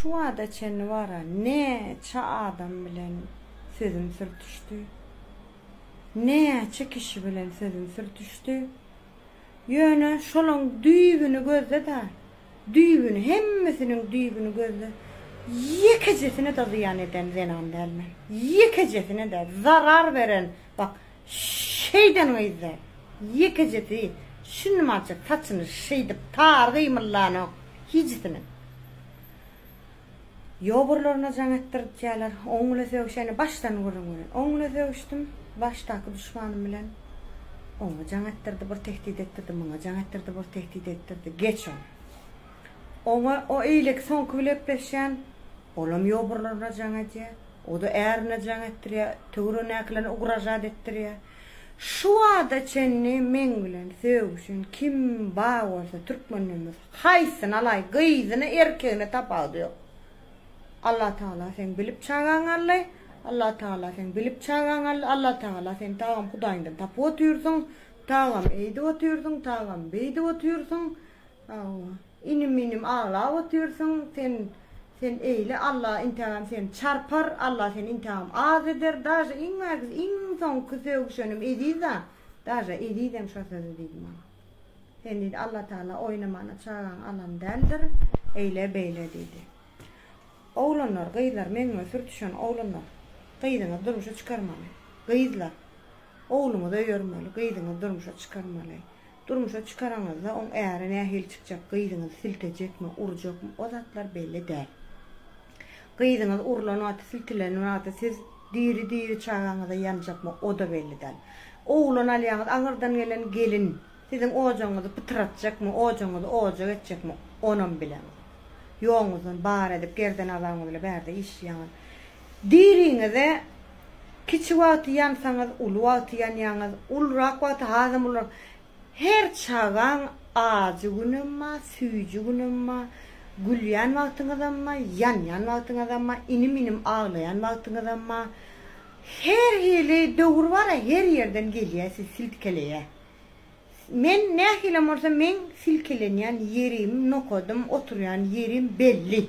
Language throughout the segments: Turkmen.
Şu wagta çenli wara näçe adam bilen sözüm sürtüşdi. Näçe kişi bilen sözüm sürtüşdi. Ýöne şolaň düýbüni gözle-de, düýbüni, hemmesiniň düýbüni gözle, ýekejesine-de zyýan eden zenan däl men. Ýekejesine-de zarar beren, bak, Şeýden gyzdy. Ýekejesi şunmança saçyny şeýdip tar gymyldanok hijisiniň. Ýoburlaryna jaň etdiripjeler. Oň bile sögüşeni başdan gürrüň beren. Oň bile sögüşdim. Başdaky duşmanym bilen oňa jaň etdirdi, bir tehdit etdirdi, muňa jaň etdirdi, bir tehdit etdirdi. Geç ol. Oňa o eýleki soňky bile gepleşýän, olam ýoburlaryna jaň edýär. O-da ärine jaň etdirýär, töweregindäkilerine ugražat etdirýär. Şu wagta çenli meň bilen sögüşen kim bar bolsa türkmenden bolsa, haýsyny alaý, gyzyny, erkegini tapawudy ýok. Allatagala seň bilip çagaň aldy, Allatagala seň bilip çagaň aldy, Allatagala seň tagam hudaýyňdan tapyp otyrsyň, tagam eýdip otyrsyň, tagam beýdip otyrsyň. Hawa. Inim inim aglap otyrsyň sen sen eýle Alla intägem seni çarpar Alla seni intägem az eder daže iň ägis iň soňky sögüşenim Eziza daže Ezizem şo sözi diýdi maňa sen diýdi Alla Taala oýnamana çagaňy alan däldir eýle beýle diýdi oglanlar gyzlar meňňe sürtüşen oglanlar gyzyňyzy durmuşa çykarmaly gyzlar ogluňyzy öýermeli gyzyňyzy durmuşa çykarmaly Durmuşa çykaraňyzda oň äri nähili çykjak, gyzyňyzy siltejekmi, urjakmy, o zatlar belli däl. Gyzyňyz urlan wagty, siltilen wagty siz diri-diri çagaňyza ýanjakmy, o-da belli däl. Oglan alýaňyz, aňyrdan gelen gelin siziň ojagyňyzy pytratjakmy, ojagyňyzy ojak etjekmi, onam bileňiz. Ýoguňyzdan bar edip, gerden-azabyňyz bilen bärde işleýäňiz. Diriňize kiçi wagty ýansaňyz, uly wagty ýanýaňyz, ulurak wagty hasam ulurak. Her çagaň ajy günem ba, süýji günem ba, gülýän wagtyňyzam ba, ýanýan wagtyňyzam ba, inim-inim aglaýan wagtyňyzam ba. Her hili döwür bar-a, her ýerden gelýä siz silkeleýä. Men nähilem bolsa meň silkelenýän ýerim, nokadym, oturýan ýerim belli.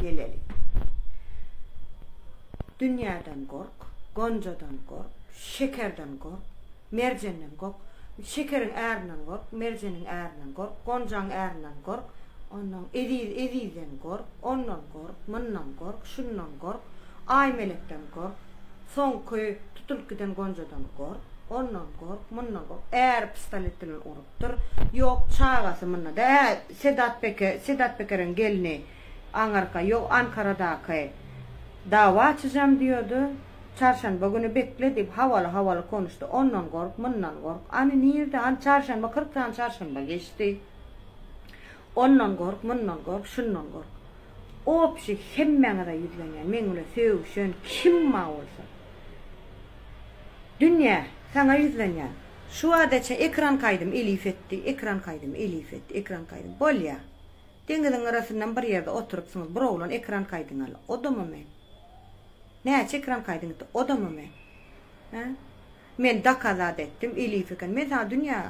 Geleli. Dünýäden gork, gonjadan gork, şekerden gork, merjenden gork, şekeriň ärinden gork, merjeniň ärinden gork, gonjaň ärinden gork, onnoň eziz ezizden gork, ondan gork, mundan gork, şundan gork, Aýmelekden gork, soňky tutulyp giden gonjadan gork, ondan gork, mundan gork, äri pistolet bilen urup. Dur yok çagasy munda da hä Sedat Peke Sedat Pekeriň gelni aňyrka yok Ankaradaky dawa açyjam diyordy Çarşanba güni bekle diyip hawaly hawaly konuşdy ondan gork mundan gork any nirde any Çarşanba kyrk sany Çarşanba geçdi ondan gork mundan gork şundan gork opşi hemmäňize ýüzlenýän meň bile sögüşen kim ma bolsa dünýä saňa ýüzlenýän Şu badaça ekran kaýdym elif etdi, ekran kaýdym elif etdi, ekran kaýdym. Bolýa. Deňiziň gyrasyndan bir ýerde oturypsyňyz, bir oglan ekran kaýdyňy al. Odama men. Näçe ekran kaýdyň etdi, odama men. Hä? Men dokazat etdim, elif eken. Men saňa dünýä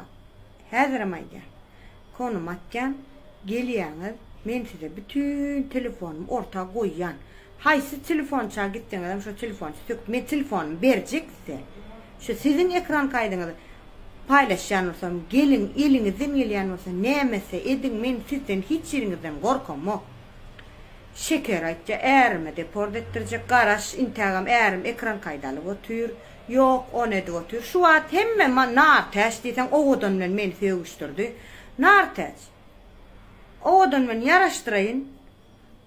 häzirem aýdýan. Konum atýan, gelýäňiz, men size bütin telefonumy orta goýýan. Haýsy telefonça gitseňizem şo telefonça söküp men telefonumy berjek size. Şu siziň ekran kaýdyňyzy paýlaşýan bolsam, geliň, eliňizden gelýän bolsa nämetse ediň, men sizden hiç ýeriňizden gorkamok. Şeker aýtýa, ärime deport etdirjek, garaş, intägem ärim ekran kaýdy alyp otyr. Ýok, ony edip otyr. Şu wagt hemme Nartäç diýseň owadan bilen meni sögüşdirdi. Nartäç. Owadan bilen ýaraşdyraýyn.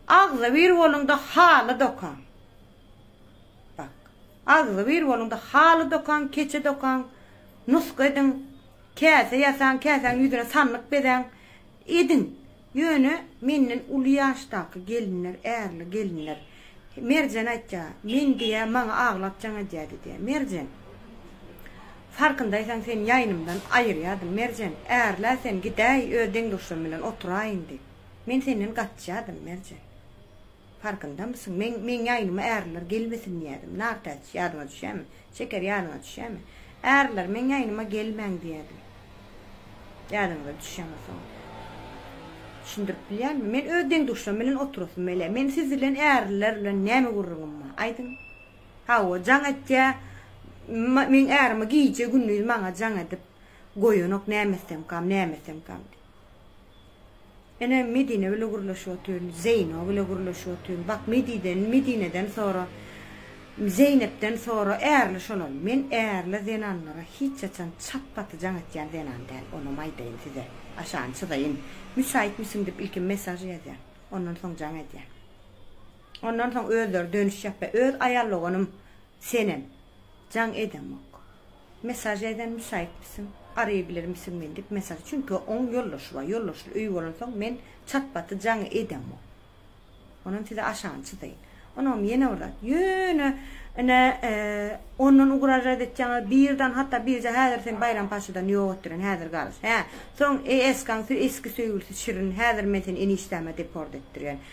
Agzybir boluň-da haly dokaň. Bak. Agzybir boluň-da haly dokaň, keçe dokaň, nusga ediň, käse ýasaň, käsäň ýüzüne sandyk bezäň. Ediň. Ýöne menden uly ýaşdaky gelinler, ärli gelinler, Merjen aýtýa, men diýýä, maňa aglap jaň edýä diýýä. Merjen, farkyndaýsaň sen ýaýnymdan aýyrýadym, Merjen, ärlä sen, gidäý, öz deň-duşlarym bilen oturaýyn diýip. Men senden gaçýadym, Merjen. Farkyndamysyň? Meň, meň ýaýnyma ärler gelmesin diýýädim. Nartäç, ýadyňa düşýämi? Şeker, ýadyňa düşýämi? Ärler, meň ýaýnyma gelmäň diýýädim. Ýadyňyza düşýämi soň? Düşündirip bilýänmi? Men öz deň-duşlarym bilen oturasym bile. Meniň siz bilen, ärler bilen näme gürrüňim bar? Aýdyň. Hawa, jaň etýä. M, meň ärim-ä gije-gündiz maňa jaň edip goýanok, näme etsemkam, näme etsemkam diýip. Ene, Medine bile gürleşip otyryn, Zeýno bile gürleşip otyryn. Bak, Mediden, Medineden sora, Zeýnepden sora, ärli şolal. Men ärli zenanlara hiç haçan çat-paty jaň etýän zenan däl, onam aýdaýyn size. Aşany çyzaýyn. Müsäýtmisiň diýip ilki mesaž ýazýan. Ondan soň jaň edýän. Ondan soň özleri dönüş ýapýa. Öz aýal doganym Senem jaň edemok. Mesaj ýaýdan müsaýytmisiň? Araýa gilermisiň men dip mesaj çünki oň ýoldaşy bar ýoldaşly öýi bolan soň men çat baty jaňy edemok onam size aşany çyzaýyn onam ýene bir zat ýöne ine ondan ugražat etýaňa birdan hatda birje häzir sen baýram paşadan ýok etdiren häzir galyş hä soň esgaň eski söýgülisi şirin häzir men seni enişdäme deport etdirýän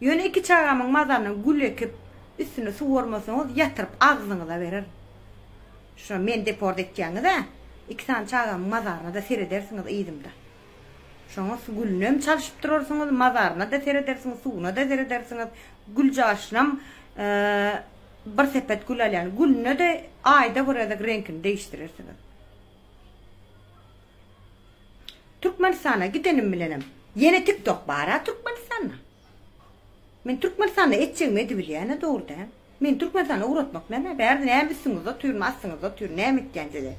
Ýöne iki çagamyň mazanyny gül ekip, üstüne suwarmasaňyz, ýatyryp agzyňyza berer. Şuna meni deport etýäňiz-ä. Iki sany çagamyň mazaryna-da seredersiňiz yzymda. Şoňa gülünem çalşyp durarsyňyz, mazaryna-da seredersiňiz, suwuna-da seredersiňiz. Gül caşynam bir sepet gül alýan. Gülüne-de aýda bir gezek reňkini degişdirersiňiz. Türkmenistana gidenim bilenem ýene tik tok bara Türkmenistanda. Men Türkmenistanda etjegimi edibilýäne dogry dä. Meni Türkmenistana ugratmak näme? Bärde näme üstüňizde otyryn, astyňyzda otyryn, näme etýän size?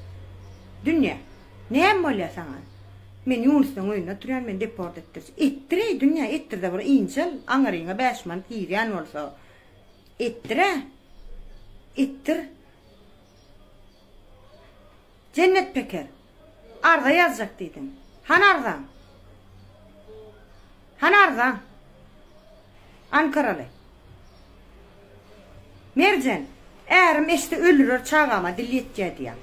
Dünýä. Näme bolýa saňa? Men Ýunusdan öýünde oturýan, meni deport etdir. Etdireý dünýä, etdirde bir ynjal, aňyryňa bäş manat girýän bolsa. Etdirä. Etdir. Jennet Peker, Arza ýazjak diýdiň. Hany arzaň? Hany arzaň? Ankaraly. Merjen, Ärim eşitse öldürer çagama dil ýetýä diýýär.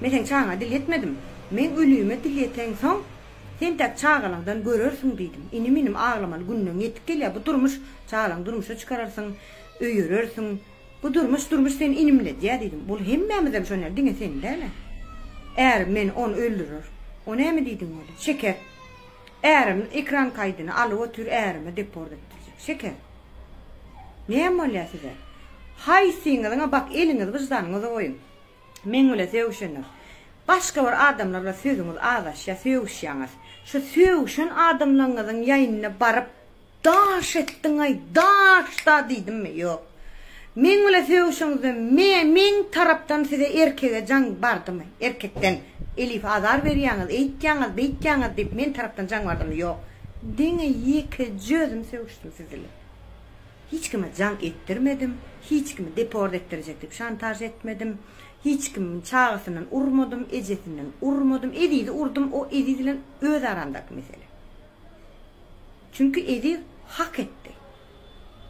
Men seň çagaňa dil ýetmedim. Meň ölüme dil ýeteňsoň, sen täk çagalaňdan görersiň diýdim. Inim-inim aglamaly günleň ýetip gelýär. Bu durmuş, çagalaňy durmuşa çykararsyň, öýerersiň. Bu durmuş durmuş seni inimledýä diýdim. Ol hemmämizem şonýal diňe sen dälä. Ärim meni ony öldürer. O näme diýdiň welin? Şeker. Ärim ekran kaýdyny alyp otyr ärime deport etdirjek. Şeker. Näme bolýa size? Haýsyňyzyňa bak eliňizi wyždanyňyza goýuň. Meň bile sögüşenok. Başga bir adamlar bilen sözüňiz azaşýa sögüşýaňyz. Şu sögüşen adamlaňyzyň ýaýynyna baryp. Daş etdiň-aý, daş-da diýdimmi? Ýok. Meň bilen sögüşiňizde me-meň tarapdan size erkege jaň bardymy? Erkekden Elif azar berýäňiz, eýtýäňiz, beýtýäňiz diýip men tarapdan jaň bardymy? Ýok. Diňe ýekeje özüm sögüşdim siz bilen. Hiç kime jaň etdirmedim, hiç kimi deport etdirjek diýip şantaž etmedim, hiç kimiň çagasyndan urmadym, ejesinden urmadym, Ezizi urdum, o Eziz bilen öz aramdaky mesele. Çünki Eziz hak etdi.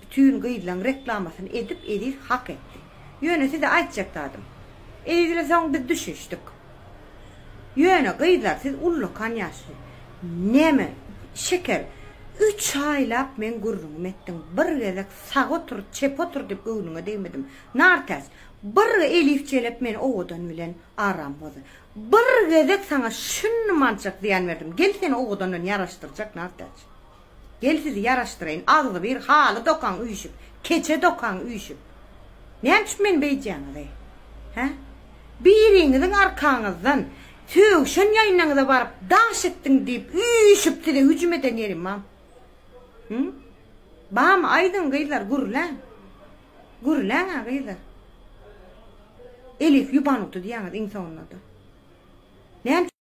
Bütün gyzlaň reklamasyny edip Eziz hak etdi. Ýöne size aýtjak zadym. Ezizle soň biz düşüşdik. Ýöne gyzlar siz ullakan ýaşly. Näme Şeker üç aýlap meň gürrüňimi etdiň bir gezek sag otur çep otur dip göwnüňe degmedim. Nartäs bir Elif jelep meni owadan bilen aram bozdy. Bir gezek saňa şunmançak zyýan berdim. Gel seni owadandan ýaraşdyrjak Nartäç. Gel sizi ýaraşdyraýyn, agzybir haly dokaň üýşüp, keçe dokaň üýşüp. Näme üçin meni beýdýäňiz-eý? Hä? Biriňiziň arkaňyzdan sögşen ýaýynaňyza baryp daş etdiň diýip üýşüp size hüjüm eden ýerim bamy? Hü? Bamy aýdyň gyzlar gürläň. Gürläň-ä gyza. Elif ýubanuty diýýäňiz iň soňunda-da. Näme.